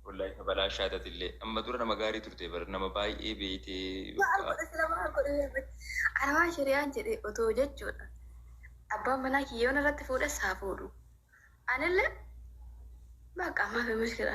Wallahi kabalaa shaatati illee amma dura nama gaarii turte bar nama baay'ee beeytee Maal godhe sila maal godhe beekte. Ana waan shari'aan jedhe otoo jechuudha. Abbaan manaa kiyyoon irratti fuudhes haa fuudhu. Anillee bakka ammaa fi mushkila.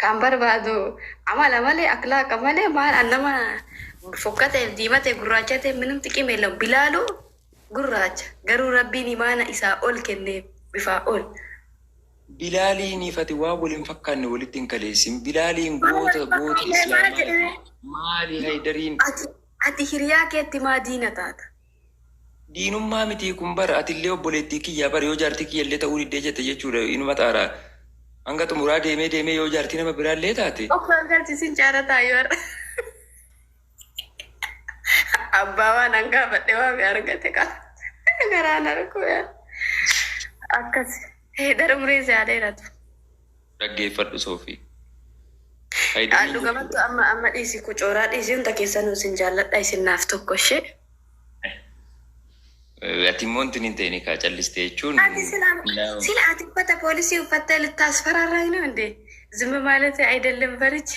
Kan barbaadu amala malee akhlaaqa malee maal an nama fokkateef diimate gurraachate minum xiqim yellem bilaalu gurraacha garuu rabbiin imaana isaa ol kenneef bifaa ol. Bilaaliini fatiwaa wal hin fakkaanne walitti hin kaleessin bilaaliin goota goota islaamaati maali haydariin. Ati hiriyaa keetti maa diina taata. Diinummaa mitii kun bar atillee obboleettii kiyyaa bar yoo jaartii kiyyallee ta'uu diddee jette jechuudha inuma xaaraa hanga xumuraa deemee deemee yoo jaartii nama biraallee taate Of gargaarchisin caara taayu har'a. Abbaa waan hangaa badhe waame argate kaa. Garaan harkuu yaa. Akkas. Hee dara muree si haa dheeratu. dhaggeeffadhu soofi. Faayidaan Dhuga battu amma amma dhiisi kucooraa dhiisi hunda keessan isin jaalladha isin naaf tokko ishee. Ati immoo wanti hin ta'in kaa calliste jechuun. Ati sila sila ati uffata poolisii uffattee littaas faraarraa hin hundee zimma maalatee ayidellim barichi.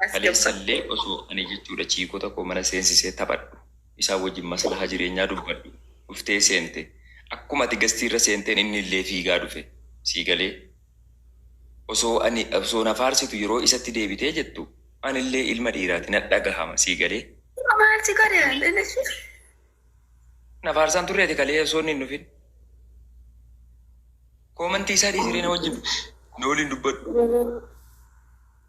As gabba. Kaleessallee osoo ani jechuudha chiikota koo mana seensisee taphadhu, isaan wajjin maslahaa jireenyaa dubbadhu, dhuftee seente. Akkuma ati gastiirra seenteen innillee fiigaa dhufe. Sii galee? Osoo ani, osoo na faarsitu yeroo isatti deebitee jettu, anillee ilma dhiiraati na dhagahama. Sii galee? Amma maal si godhe? Inni si. Na faarsaan turre ati kalee osoo inni hin dhufin. Koomantii isaa dhiisiree na wajjin na waliin dubbadhu.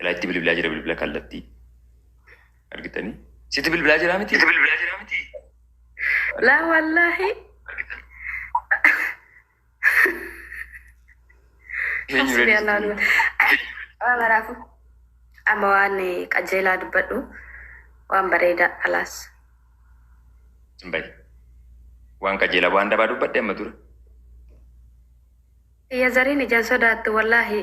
Ilaa itti bilbilaa jira bilbila kallattii. Argitanii? Sitti bilbilaa jira miti? Sitti bilbilaa jira miti? Laa wallaahi. Hasbi Alaa nuun. Waa maraafu. Amma waan qajeelaa dubbadhu. Waan bareedaa alaas. Simbayi. Waan qajeelaa waan dabaa dubbadhe amma dura. Iyya zariin ijaan sodaattu wallaahi.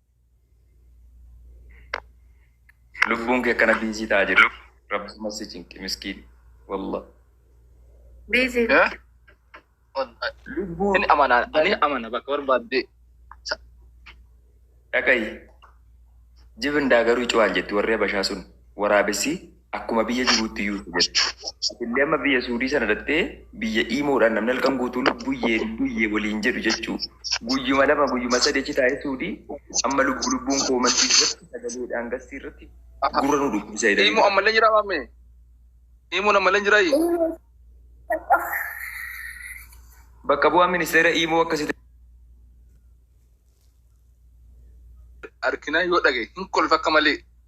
Lubbuun kee akkana biizii ta'a jiru. Rabbuma si cinqi miskiin. Wallah. Biizii. Eh? Wallahi. Lubbuu Inni amana, ani amana bakka barbaadde. dhagayi. Jibin daagaruu cuwaan jetti warri abashaa sun waraabessi Akkuma biyya jiruutti iyyuu isa jedha. Ati illee amma biyya Suudii sana dhaqxee biyya Iimoodhaan namni halkan guutuu lubbuyyee lubbuyyee waliin jedhu jechuu. Guyyuma lama guyyuma sadi achi taa'ee Suudii amma lubbu lubbuun koomantii irratti sagalee dhaangassii irratti gurra nu dhukkubsa jedhanii. Iimoo ammallee jiraa maamee? Iimoon ammallee jiraa ii? Bakka bu'aan ministeera Iimoo akkasitti Arkinaa yoo dhagaye hin kolfa akka malee.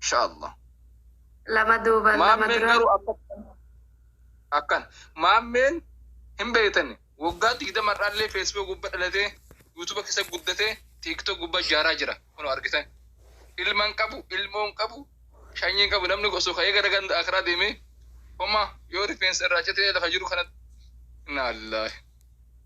Insha Allah. Lama duuba lama Maammeen dura. garuu akkan. Akkan. Maammeen hin beektani. Waggaa digdama irraallee Facebook gubba dhalatee, YouTube keessa guddatee, TikTok gubba jaaraa jira. Kunoo argitan. Ilma hin qabu, ilmoo hin qabu, shanyii hin qabu. Namni osoo ka'ee gara ganda akiraa deemee, homaa yoo rifeensa irraa citee lafa jiru kanatti. Innaa Allaahi.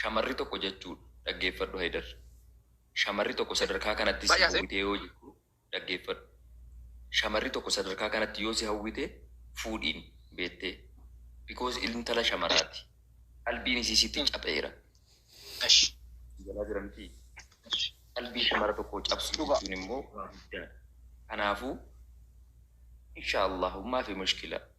Shamarri tokko jachuudha. Dhaggeeffadhu Haydar. Shamarri tokko sadarkaa kanatti si howwitee yoo jirtu dhaggeeffadhu. Shamarri tokko sadarkaa kanatti yoo si hawwite fuudhiin beettee. Because intala shamaraati. Qalbiin isii sitti capheera. Jalaa jira miti. Qalbii shamara tokkoo cabsuu jechuun immoo waa guddaadha. Kanaafuu insha Allahu maafi mushkila.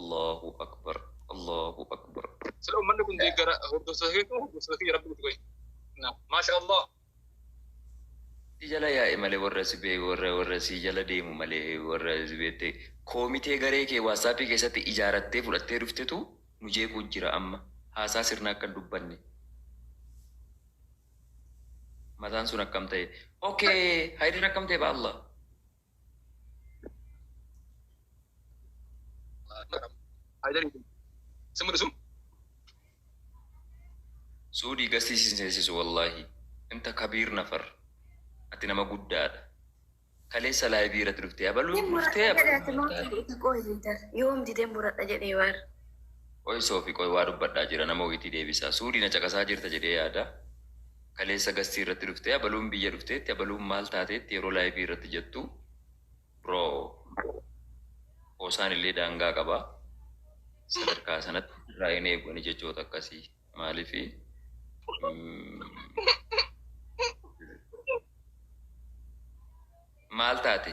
Allahu akbar Allahu akbar. Sila ummanni kun deeggara hordoftoota keetu hordoftoota kiyya rabbi nuti qoyi. Naam. Maasha Allah. Si jala yaa'e malee warra si bee warra warra si jala deemu malee warra si beette koomitee garee kee waatsaappii keessatti ijaarattee fudhattee dhuftetu nu jeequu jira amma haasaa sirna akka hin dubbanne. Mataan sun akkam ta'e? Okay, Haydar akkam ta'e ba'allah. Suudii gastii sin seesisu wallahi inta kabiir nafar ati nama guddaadha kaleessa laayivii irratti dhuftee abaluun Ni murata dhuftee jedhe ati abaluun mootii itti qohi liidar. Yoom didee murata jedhe waar. qoy soofi qoy waa dubbadhaa jira nama wayitii deebisaa suudii na caqasaa jirta jedhee yaada kaleessa gastii irratti dhuftee abaluun biyya dhufteetti abaluun maal taateetti yeroo laayivii irratti jettu bro qoosaan illee daangaa qaba sadarkaa sanatti irraa hin eegu ani jechoota akkasii maaliifi maal taate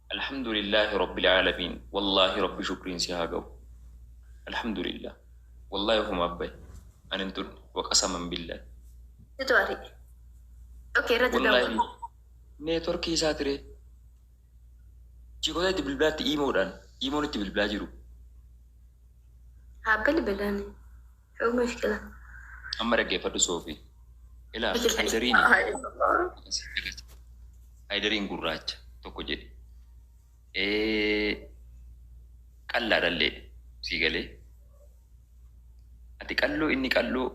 Alhamdulillah Rabbil Aalamiin Wallaahi Rabbi Shukriin si haa gahu Alhamdulillah Wallaahi ofumaaf bahe Ani hin tunne Waqasaman Billahi. Situ ari'e. Ok irratti Wallaahi dawwala. Neetworkii isaa tiree Jikoota itti bilbilaatti iimoodhaan iimoon itti bilbilaa jiru. Haa bilbilani. Dhuguma fiqila. Amma dhaggeeffadhu Soofii. Ilaal Haydariin Haydariin gurraacha tokko jedhe. Qallaa dhallee sii galee. Ati qalloo inni qalloo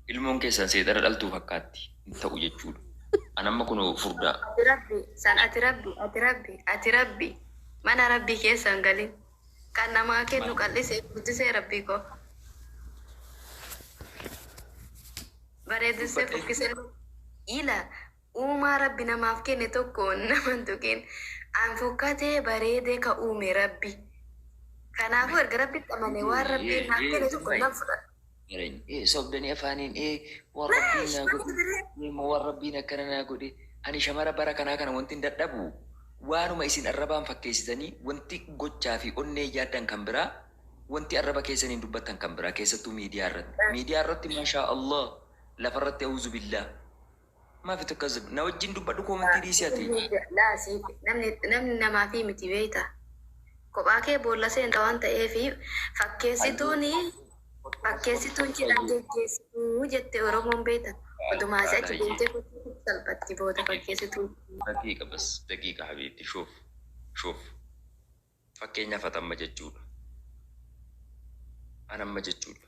ilmoon keessan seexana dhaltuu fakkaatti hin ta'u jechuudha. An amma kun furdaa. Ati rabbi san ati rabbi ati rabbi ati rabbi mana rabbi keessa hin galin. Kan namaa kennu Maal? qal'isee guddisee rabbii koo. Bareedessee Dubbatee. fokkisee ila uumaa rabbi namaaf kenne tokko nama hin tuqin. An fokkatee bareedee ka uume rabbi. Kanaafuu erga rabbitti amane waan rabbiin naaf kenne tokko nan fudhadha. Mareen ee sobdanii afaaniin ee waan Wee rabbiin naa shuma godhe kutu biree. ani immoo waan rabbiin akkana naa godhe ani shamara bara kanaa kana wantin dadhabu waanuma isin arrabaan fakkeessitanii wanti gochaa fi onneen yaaddan kan biraa wanti arraba keessaniin dubbattan kan biraa keessattuu miidiyaa irratti miidiyaa irratti maashaa Allah lafa irratti auzubillaah Mafi tkazb na wajjin dubbadhu komentii dhiisi ati. Laa siif namni namni namaafii miti beeyta kophaa kee boolla seenta waan ta'eef fakkeessituun fakkeessituun cidhaan geggeessituu jette oromoon beeyta odumaa si achi deemtee fakkeessituuf salphatti booda fakkeessituun. Daqiiqa bas daqiiqa habiibti shuuf shuuf fakkeenyaaf ati amma jechuudha an amma jechuudha.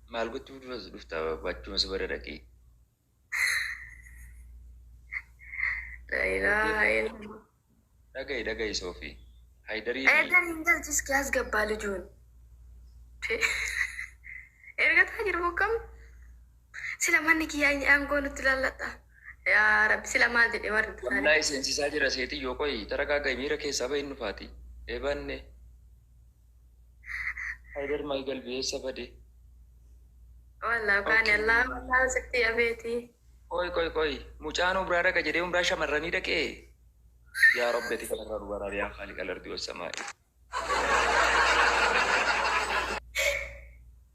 Maal gochuuf dura as dhufta babu achuman si bada dhaqii. La ilaha illallah. Dhagayi dhagayi soofi. Haydarii fi Eedan hin galchi iski as gabbaa lijuun. Ergataa jiru bokkam. Sila manni kiyyaa inni aangoo nutti lallata. Yaa rabbi sila maal jedhe warri taane. wallaahi seensisaa jira seetiyyoo qoyi taragaagai miira keessaa bahin nufaati. Eebaanne. Haydar my galbi eessa bade? Wallah baane Allah Allah sitti abeeti. Qoy qoy qoy mucaan umraa dhaqa jedhee umraa shamarranii dhaqee yaa rabbi ati kanarraa nu baraari yaa khaaliqa lardi wassamaa'i.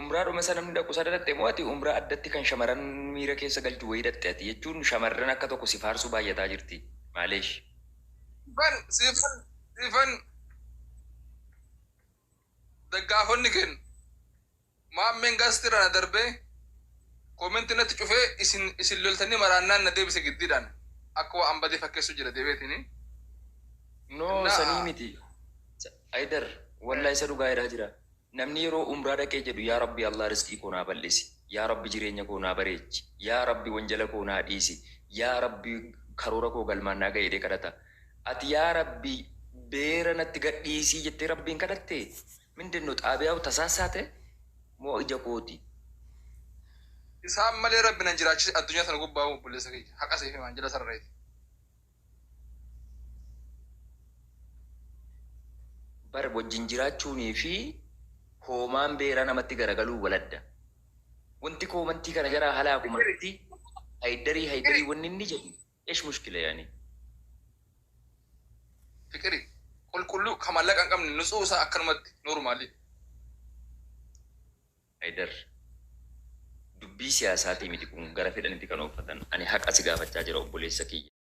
Umraa dhuma isa namni dhaqu isaa dhaqxe moo ati umraa addatti kan shamaran miira keessa galchu wayii dhaqxe ati jechuun shamarran akka tokko si faarsuu baayyataa jirti maaleesh. Siifan siifan siifan daggaafonni ken maammeen gaasti irraa na darbee koomenti natti cufee isin isin loltanii maraannaan na deebise giddiidhaan akka waan badee fakkeessu jira deebeetini. No Innaa- sanii miti. Haydar wallah isa dhugaa jedhaa jira namni yeroo umraa dhaqee jedhu yaa rabbi Allah risqii koo naa bal'isi yaa rabbi jireenya koo naa bareechi yaa rabbi wanjala koo naa dhiisi yaa rabbi karoora koo galmaan naa ga'i jedhee kadhata ati yaa rabbi beera natti gadhiisii jettee rabbiin kadhatte mindinno xaabiyaa'u tasaassaate moo ija kooti Isaan malee rabbi nan jiraachise addunyaa tana gubbaa obboleessa kiyya haqa siif himaan jala sarreeti. Bar wajjin jiraachuunii fi hoomaan beeraa namatti garagaluun wal adda. Wanti koomantii kana jaraa halaaku marti haydarii haydarii wanni inni jedhu esh mushkila yani. Fiqiri. Qulqulluu ka mallaqa hin qabne nutsu'u isaa akkanumatti normal. Haydar. Dubbii siyaasaatii miti kun gara fedhanitti kan ooffatan ani haqa si gaafachaa jira obboleessa kiyya.